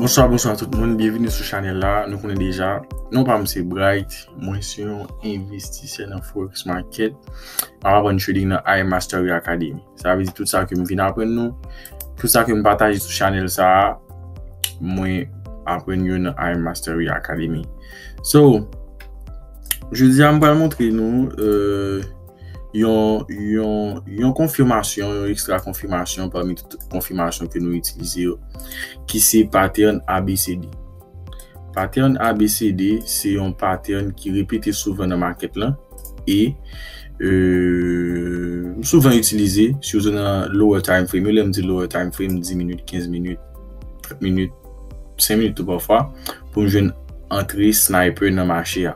Bonswa, bonswa tout moun, byenvini sou chanel la, nou konnen deja, nou pa mse Bright, mwen se yon investisè nan Forex Market, mwen apren trading nan AI Mastery Academy. Sa vezi tout sa ke mwen vin apren nou, tout sa ke mwen pataje sou chanel sa, mwen apren yon nan AI Mastery Academy. So, je di a mwen pral montre nou, eee... Euh, yon konfimasyon, yon ekstra konfimasyon pami tout konfimasyon ke nou itilize yo, ki se pattern ABCD. Pattern ABCD se yon pattern ki repete souvan nan market lan e euh, souvan itilize, souvan nan lower time frame. Yo lèm di lower time frame, 10 minutes, 15 minutes, 30 minutes, 5 minutes tout pafwa, pou nou jwenn antre sniper nan mache a.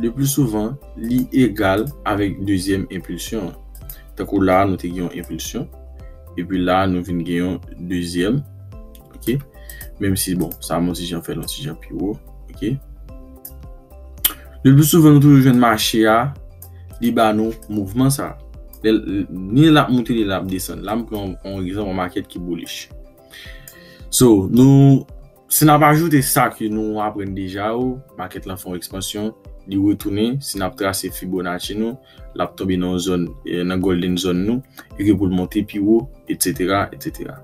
Lepli souvan, li egal avèk dezyèm enpilsyon an. Tankou la a nou te gen yon enpilsyon, epi la a nou vin gen yon dezyèm, ok? Menm si bon, sa mwen ti jan fè l yon ti jan pi wo, ok? Lepli souvan nou toujou jwenn mache a, li ba nou mouvman sa a. Ni l ap moute ni l ap desann. La m pran yon egzanp yon makèt ki boulich. So, nou Si n ap ajoute sa ke nou aprann deja yo, makèt lan fè yon ekspansyon, li retounen, si n ap trase Fibonacci nou, l ap tonbe nan yon zòn, nan Golden Zone nou, e ke pou l monte pi wo, etsetera, etsetera.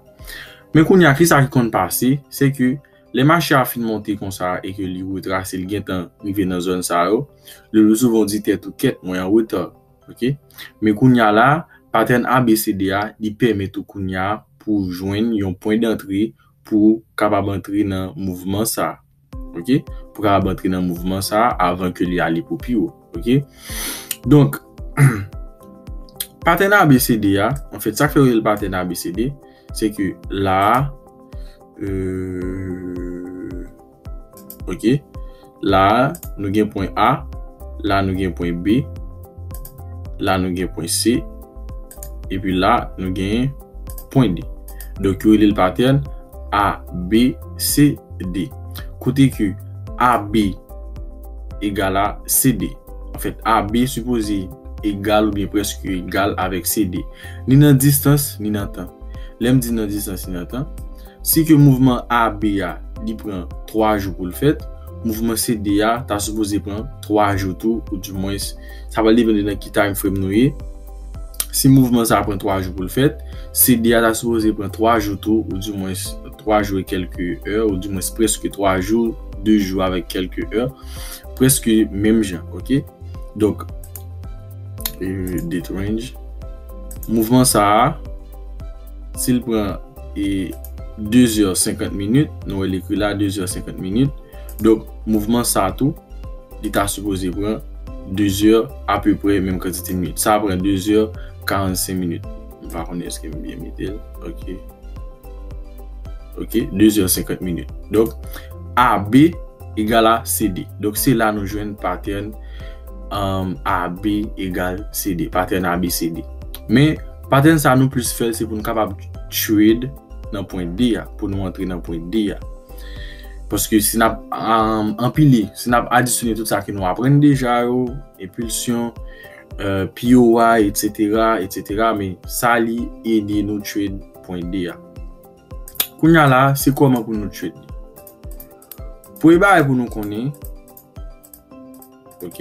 Men kounye a, kisa ki konn pase, se ke lè mache a fin monte konsa e ke li retrase, li gentan rive nan zòn sa yo, lelousouvan ou di tèt ou, kèt, mwen an reta, ok. Men kounye a la, patèn ABCD a, li pèmèt ou kounye a pou w jwenn yon pwen dantre pou kapab antre nan mouvman sa a. Ok. Pou kapab antre nan mouvman sa a avan ke li ale pou pi wo. Ok. Donk, patèn ABCD a, an fèt, sa k fè yo rele l patèn ABCD, se ke la a, eee. Ok. La a, nou gen pwen A. La nou gen pwen B. La nou gen pwen C. E pi la, nou gen pwen D. Donk yo rele l patèn A, B, C, D. Kote ke AB egal a CD. An fèt, AB sipoze egal oubyen prèske egal avèk CD. Ni nan distans, ni nan tan. Lè m di nan distans, ni nan tan. Si ke mouvman A, B a li pran 3 jou pou l fèt, mouvman C, D a ta sipoze pran 3 jou tou ou di mwens sa pral depende nan ki time frame nou ye. Si mouvman sa pran 3 jou pou l fèt, C, D a ta sipoze pran 3 jou tou ou di mwens 3 jou e kelke è ou di mwens preske 3 jou, 2 jou avèk kelke è, preske menm jan ok. Donk date range mouvman sa a si l pran. e 2 zè 50 minit nou wè l ekri la 2 zè 50 minit donk mouvman sa tou li ta sipoze pran 2 zè apeprè menm kantite minit sa pran 2 zè 45 minit m pa konnen èske m byen mete l ok ok 2 zè 50 minit donk AB egal a CD donk se la nou jwenn patèn AB egal CD patèn ABCD men Pattern sa nou plis fèl se pou nou kapab trade nan pwen D a, pou nou antre nan pwen D a. Paske si nap anpile, si nap adisyone tout sa ki nou aprenn deja yo, impulsion, euh, POI, etc, etc, men sa li ede nou trade pwen D a. Kounya la, se kouman pou nou trade li. Pwen ba e pou nou konnen, ok,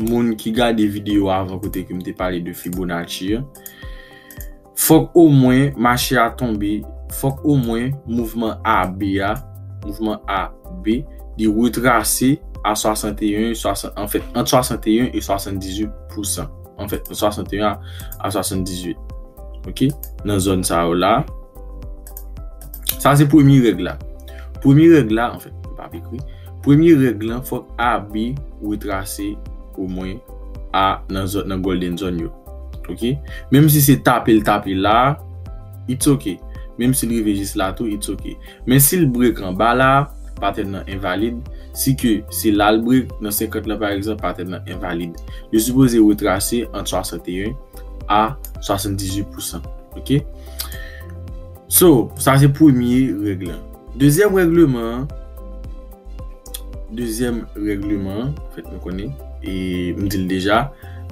Moun ki gade video avan kote ke m te pale de Fibonacci yo, fòk o mwen mache a tonbe, fòk o mwen mouvman AB a, mouvman AB, li retrase a 61, an fèt, ant 61 e 78 pousan. An fèt, ant 61 a 78. Ok? Nan zòn sa yo la. Sa se premye règ la. Premye règ la, an fèt, m pa p ekri. Premye règ lan fòk AB retrase o mwen a nan zòn nan golden zone yo ok menm si se tape l tape la it's ok menm si l rive jis la tou it's ok men si l break anba la pattern nan envalid si ke se la l break nan 50 lan pa egzanp pattern nan envalid yo sipoze retrase ant 61 a 78 pousan ok. So, sa se premye règ lan. Dezyèm règleman an, dezyèm règleman an, fèt nou konnen, e m di l deja,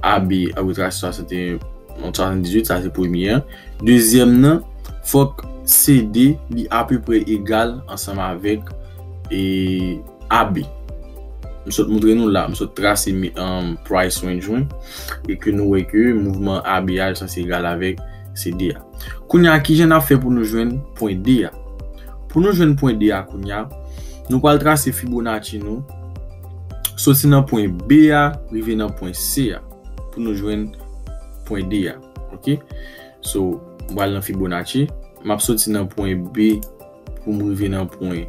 AB, abitraj 61, 78, sa se premye an. Dezyèm nan, fòk CD li apeprè egal ansanm avèk e AB. M sot montre nou la, m sot trase price range mwen, e ke nou wè ke mouvman AB a li sanse egal avèk CD a. Kounye a, ki jan n ap fè pou nou jwenn pwen D a? Pou nou jwenn pwen D a kounye a, nou pral trase Fibonacci nou soti nan pwen B a rive nan pwen C a pou nou jwenn pwen D a. Ok, so m pral nan Fibonacci, m ap soti nan pwen B pou m rive nan pwen.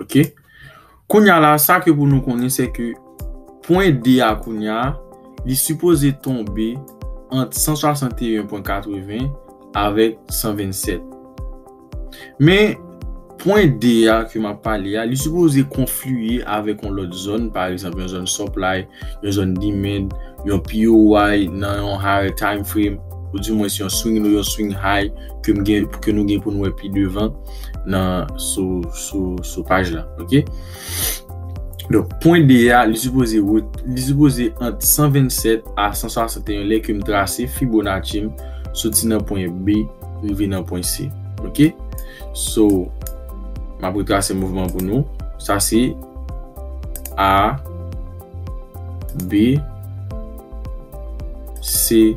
Ok. Kounya la, sa ke pou nou konnen se ke pwen D a kounya, li sipoze tonbe ant 161.80 avèk 127. Men, pwen D a ke m ap pale a, li sipoze konfliye avèk yon lòt zòn, pa egzanp yon zòn supply, yon zòn dimen, yon POY nan yon higher time frame, ou di mwens yon swing low, yon swing high ke m gen, ke nou gen pou nou wè pi devan nan sou, sou, sou paj la. Ok. Donk, pwen D a, li sipoze ret, li sipoze ant 127 a 161 lè ke m trase Fibonacci m soti nan pwen B rive nan pwen C. Ok. So, m ap retrase mouvman pou nou. Sa se. A B C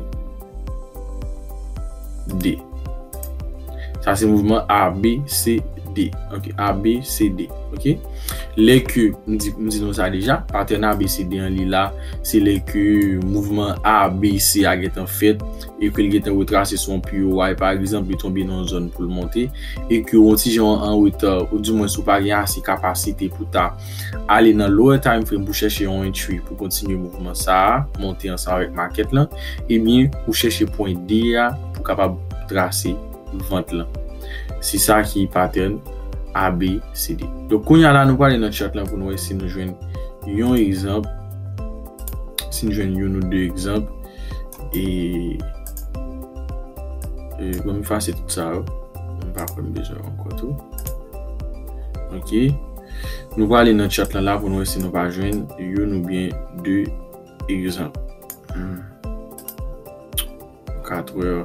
D Sa se mouvman A B C D Ok A B C D Ok Lè ke m di m di nou sa deja Patèn A B C D an li la Se lè ke mouvman A B C a gentan fèt e ke l gentan retrase sou yon piyo way pa egzanp li tonbe nan yon zòn pou l monte e ke w yon ti jan an reta ou di mwens ou pa gen ase kapasite pou ta ale nan lower time frame pou chèche yon entry pou kontinye mouvman sa a monte ansanm avèk makèt lan ebyen ou chèche pwen D a pou kapab trase vant lan se sa ki pattern ABCD donk kounya la nou prale nan chart lan pou nou wè si nou jwenn yon egzanp. Si n jwenn youn ou de egzanp e bon m efase tout sa yo. M pa kwè m bezwen yo ankò tou. Ok. Nou prale nan chat lan la pou nou wè si nou pa jwenn youn oubyen de egzanp. Katrè.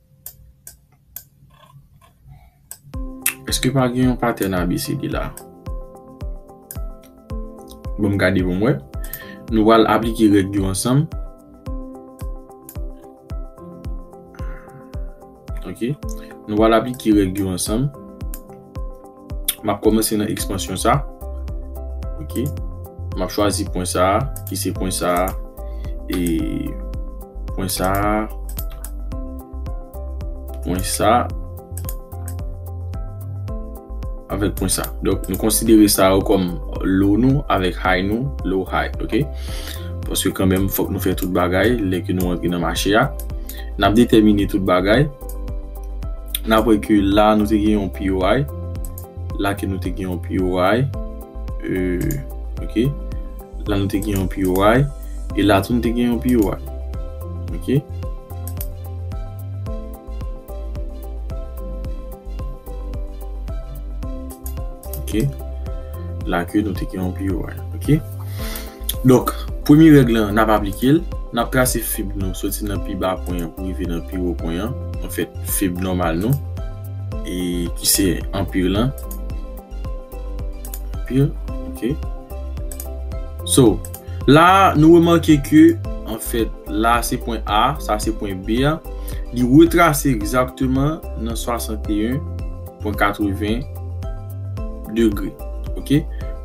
Eske pa gen yon patèn ABCD la? Bon m gade pou m wè. Nou pral aplike règ yo ansanm. Ok. Nou pral aplike règ yo ansanm. M ap kòmanse nan ekspansyon sa. Ok. M ap chwazi pwen sa a, ki se pwen sa a. E pwen sa a. Pwen sa a. Avèk pwen sa a. Donk nou konsidere sa yo kòm low nou avèk high nou. Low, high. Ok. Paske kanmèm fòk nou fè tout bagay lè ke nou antre nan mache a. N ap detèmine tout bagay. Nan wè ke la nou te gen yon POI. La ke nou te gen yon POI. Euh, ok. La nou te gen yon POI. E la tou nou te gen yon POI. Ok. Ok. La ke nou te gen yon POI. Ok. Donk, premye règ lan, n ap aplike l. N ap trase fib nou soti nan pi ba pwen an pou rive nan pi wo pwen an. Anfèt, fib nòmal nou, ki se anpir lan. Anpir, ok. So, la a, nou remake ke, anfèt, la a se pwen A, sa se pwen B a. Li retrase egzakteman nan 61. pwen 80 degre ok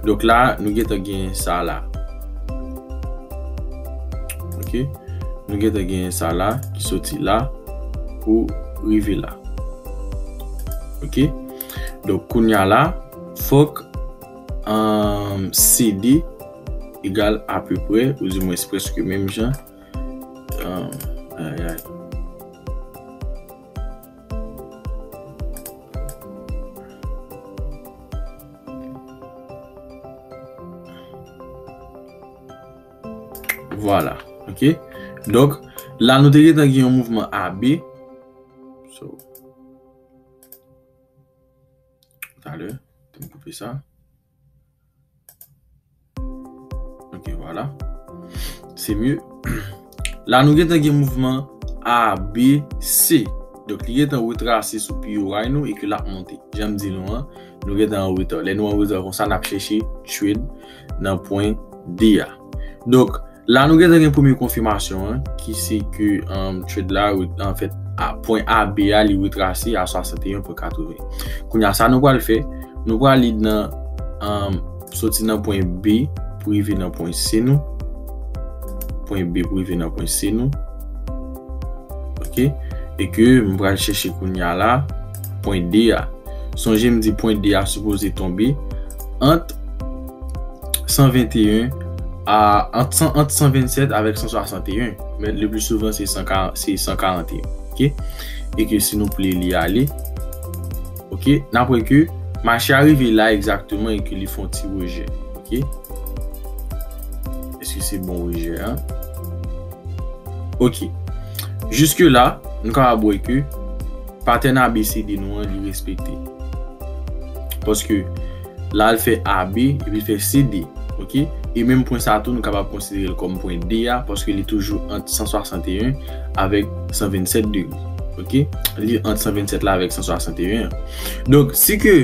donk la nou gentan gen sa la ok nou gentan gen sa la ki soti la pou rive la ok donk kounya la fok an CD egal apeprè ou di mwen espreske menm jan an ayayy Vwala, ok. Donk, la nou te gen tan gen yon mouvman AB. So. Talè, te m koupe sa. Ok wala Se mye La nou gentan gen mouvman A, B, C Donk li gentan retrase sou POI nou e ke lap monte Janm di nou an Nou gentan anreta Lè nou anreta konsa nap chèche Trade nan pwen D a Donk, la nou gentan gen premye konfimasyon an, ki se ke trade la, anfèt, a pwen AB a li retrase a 61.80. Kounye a, sa nou pral fè, nou pral li nan, soti nan pwen B pou rive nan pwen C nou. Pwen B pou rive nan pwen C nou. Ok. E ke m pral chèche kounye a la, pwen D a. Sonje m di pwen D a sipoze tonbe ant. 121 a ant 127 avèk 161 men le pli souvan se 141 ok e ke si nou pli li ale ok nan pwè ke mache a rive la egzakteman e ke li fon ti rejè ok eske se bon rejè an ok jiske la nou ka abwè ke patèn abecede nou an li respekte paske La l fè AB epi fè CD. Ok. E menm pwen sa tou nou kapab konsidere l kòm pwen D a paske li toujou ant 161 avèk 127 degre. Ok. Li ant 127 la avèk 161 an. Donk, si ke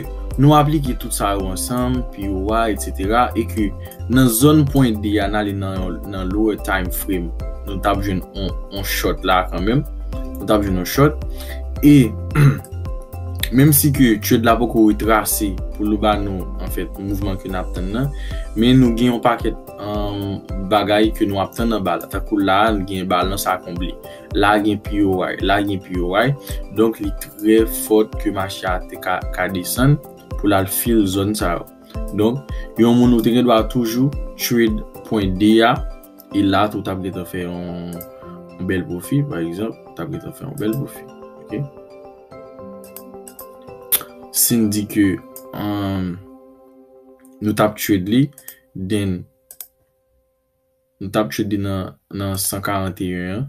nou aplike tout sa yo ansanm, pi wo a, etsetera, e ke nan zòn pwen D a n ale nan yon nan lower time frame, nou t ap jwenn yon short la kanmenm. Nou t ap jwenn yon short. E. Menm si ke trade la poko retrase pou l ba nou an fèt mouvman ke nap tann nan, men nou gen yon pakèt bagay ke nou ap tann anba la. Tankou la a nou gen balans a konble. La a gen POY. La a gen POY. Donk li trè fòt ke mache a te ka desann pou l al fill zòn sa yo. Donk yon moun ou te gen dwa toujou trade pwen 2 a. E la tou tap gentan fè yon bèl pwofi pa egzanp. Tap gentan fè yon bèl pwofi. Ok. Sin di ke an nou tap trade li den nou tap trade li nan 141 an.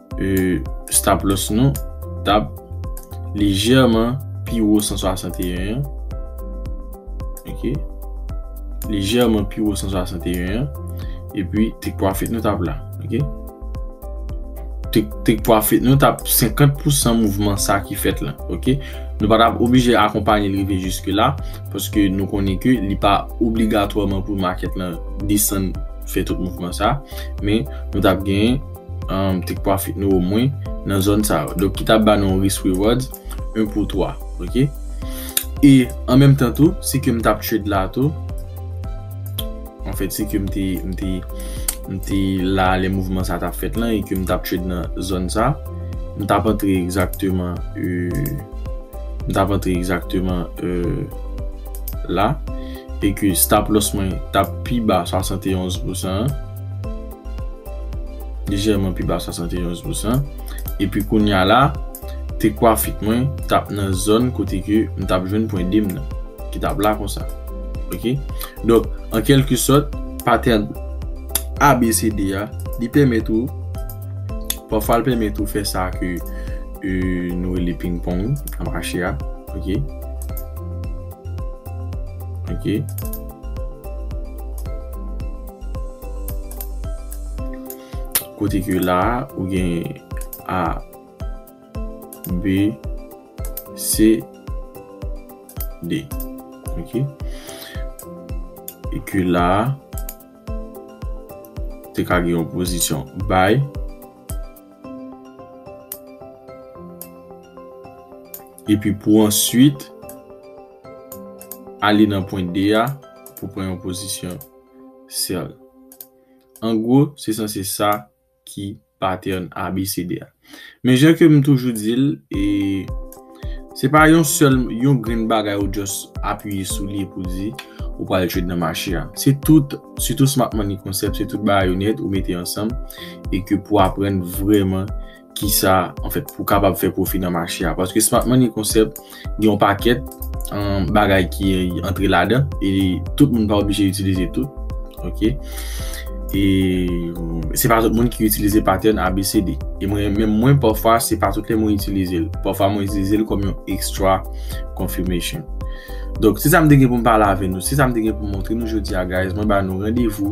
e stop loss nou tap lejèman pi wo 161 an ok lejèman pi wo 161 an e pi take profit nou tap la ok take profit nou tap 50 pou 100 mouvman sa ki fèt la ok nou pa tap oblije akonpanye li rive jiske la paske nou konnen ke li pa obligatwaman pou market la desann fè tout mouvman sa men nou tap gen Take profit nou o mwen nan zòn sa yo. Donk ki ta ba nou yon risk reward 1 pou 3. Ok. E an menm tan tou, si ke m tap trade la tou, an fèt si ke m te, m te, m te la lè mouvman sa tap fèt lan e ke m tap trade nan zòn sa, m tap antre egzakteman e, m tap antre egzakteman e la. E ke stop loss mwen tap pi ba 71 pousan an. Lejèman pi ba 71 pousan. Epi kounya la, te kwafit mwen tap nan zòn kote ke m tap jwenn pwen de m nan. Ki tap la konsa. Ok? Donk, an kelke sòt, patènn ABCD a, li pèmèt ou, pafwa l pèmèt ou fè sa ke nou rele ping pong nan mache a. Ok? Ok? Kote ke la a, ou gen A, B, C, D. Ok. E ke la a, te ka gen yon pozisyon bay. E pi pou answit, ale nan pwen D a, pou pran yon pozisyon. sèl. An gwo, se sanse sa ki patènn abecede a. Men jan ke m toujou di l, se pa yon sèl, yon grenn bagay ou just apiye sou li epi w di ou pral trade nan mache a. Se tout, sitou smart money concept, se tout bagay yo nèt ou mete ansanm e ke pou aprann vrèman. ki sa an fèt pou kapab fè pwofi nan mache a. Paske smart money concept gen yon pakèt an bagay ki antre lada e tout moun pa oblije itilize tout. Ok. E se pa tout moun ki itilize pattern ABCD. E mwen men mwen pa fwa se pa tout lè mwen itilize l. Pa fwa mwen itilize l kòm yon extra confirmation. Donk se sa m te gen pou m pale avè nou. Se sa m te gen pou m montre nou jodi a guys. Mwen ba nou randevou.